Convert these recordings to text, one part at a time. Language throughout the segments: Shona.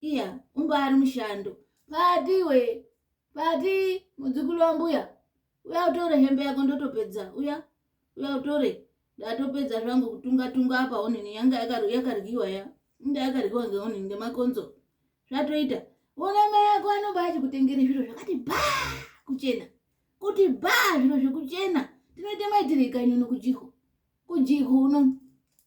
iya ungari mushando pati iwe pati mudzukulu wambuya uya utore hembe yako ndotopedza uya uya utore ndatopedza zvangu kutunga tunga apa onini yanga yakaryiwa ya inda yakaryiwa ngeonini ngemakonzo zvatoita ona mai yako anobva achikutengere zviro zvakati ba kuchena kuti ba zviro zvekuchena tinoita maitirei kanyuno kujihu kujihu unono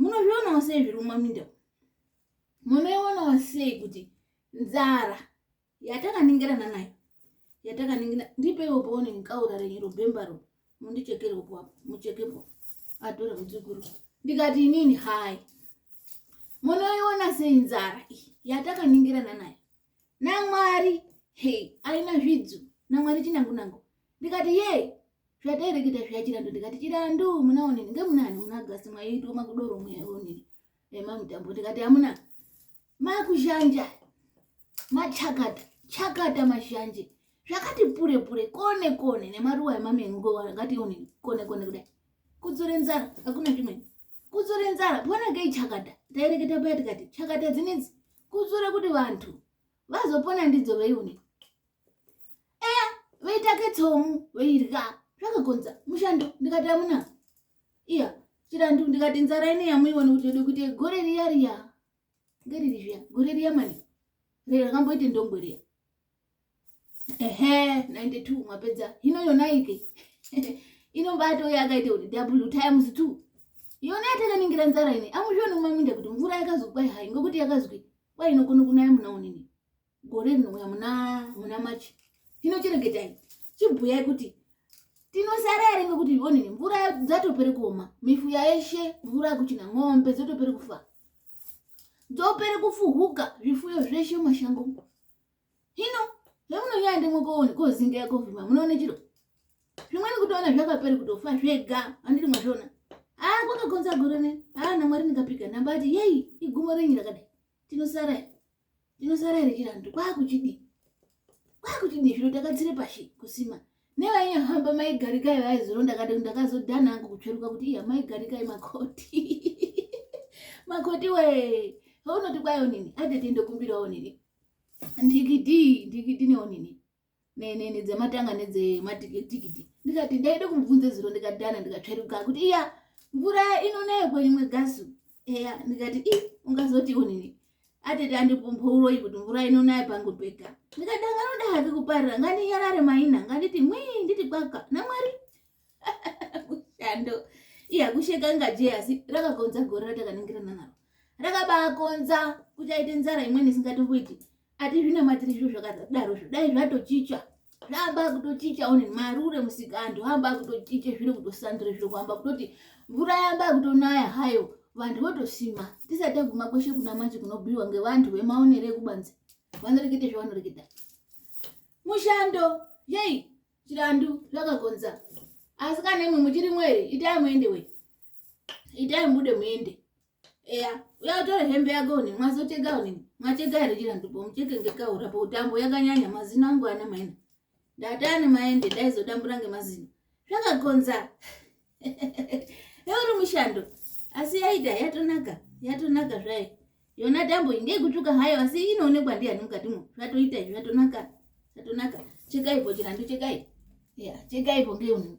munozvionawo sei zviri mumaminda munoionawo sei kuti nzara yatakaningirana nayo yatakaningira ndipeiwo paone nkaura renyu robhembaro mundichekerewo papo muchekepo atora mudzukuru ndikati inini hai munoiona sei nzara iyi yatakaningirana nayo namwari hei aina zvidzo namwari chinangunangu ndikati ye zvadaireketa zviya chirandu ndikati chirandu muna onini ngemunani muna gasi mwaitwa makudoro mweya onini emamutambo ndikati amuna makuzhanja machakata chakata mazhanje zvakati pure pure kone kone nemaruwa emamengo akati onini kone kone kudai kudzore nzara hakuna zvimweni kudzore nzara ponakei chakata taireketa paya tikati chakata dzinedzi kudzore kuti vantu vazopona ndidzo veione eya voita ketsomu voirya zvakakonza mushando ndikati amuna iya chirandu ndikati nzara ine yamuiona kuti ode kuti gore riya riya ngeriri zviya gore riya mani rero rakamboite ndongo riya ehe 92 mwapedza hino yonaike inobato yakaita kuti double times two yona yatakaningira nzara ine amuzvioni kumaminda kuti mvura yakazokwa hai ngokuti yakazwi kwainokona kunaya muna unini gore rinouya muna muna machi hino chiregetai chibhuyai kuti tinosara here ngekuti onini mvura dzatopere kuoma mifuya yeshe mvura yakuchina ng'ombe dzotopere kufa dzopere kufuhuka zvifuyo zveshe mashango hino hemunonyaya ndimwe koone kozinga yakovhima munoone chiro zvimweni kutoona zvakapere kutofa zvega andiri mwazviona haa kwakakonza gore ne haa namwari ndikapika nambati yei igumo renyu rakadai tinosara rinosara iri chirando kwakuchidii kwakuchidii zvino takadzire pashi kusima nevainyahamba maigarikai vaizoronda kati ndakazodhana angu kutsveruka kuti iya maigarikai makoti makoti we vaunoti kwayo nini atete ndokumbirawo nini ndikidii ndikidi newo nini nedzematanga nedzematikitikiti ndikati ndaida kumubvunza zuro ndikadana ndikatsveruka kuti iya mvura inonayo kwerimwe gasu eya ndikati i ungazoti unini atete andipumpouroyi kuti mvura inonayo pangu pega ndikati anganoda hake kuparira ngandiyarare maina nganditi mwii nditi kwaka namwari mushando iya kusheka ngaje asi rakakonza gore ratakaningirana naro rakabaakonza kuti aite nzara imweni isingatomboiti atizvinamatiri zviro zvakadaro zvidai zvatochicha zvaamba kutochicha one marure musika antu aamba kutochicha zviro kutosandura zviro kuamba kutoti mvura yamba kutonaya hayo vantu votosima tisati taguma kweshe kuna manje kunobhuiwa ngevantu vemaonero ekubanze vanorekete zvavanoreketa mushando yei chirandu zvakakonza asi kana imwe muchiri mwere itai muende we itai mubude muende eya uya utore hembe yako une mwazoteka une mwateka here chira ndipo mucheke ngekaura pautambo yakanyanya mazino angu ana maina ndatani maende ndaizodambura ngemazino zvakakonza euri mushando asi yaita yatonaka yatonaka zvayo yona tambo iyi ndeikutuka hayo asi inoonekwa ndiyani mukatimo zvatoita izvi zvatonaka zvatonaka chekaipo chirandu chekai ya chekaipo ngeunhu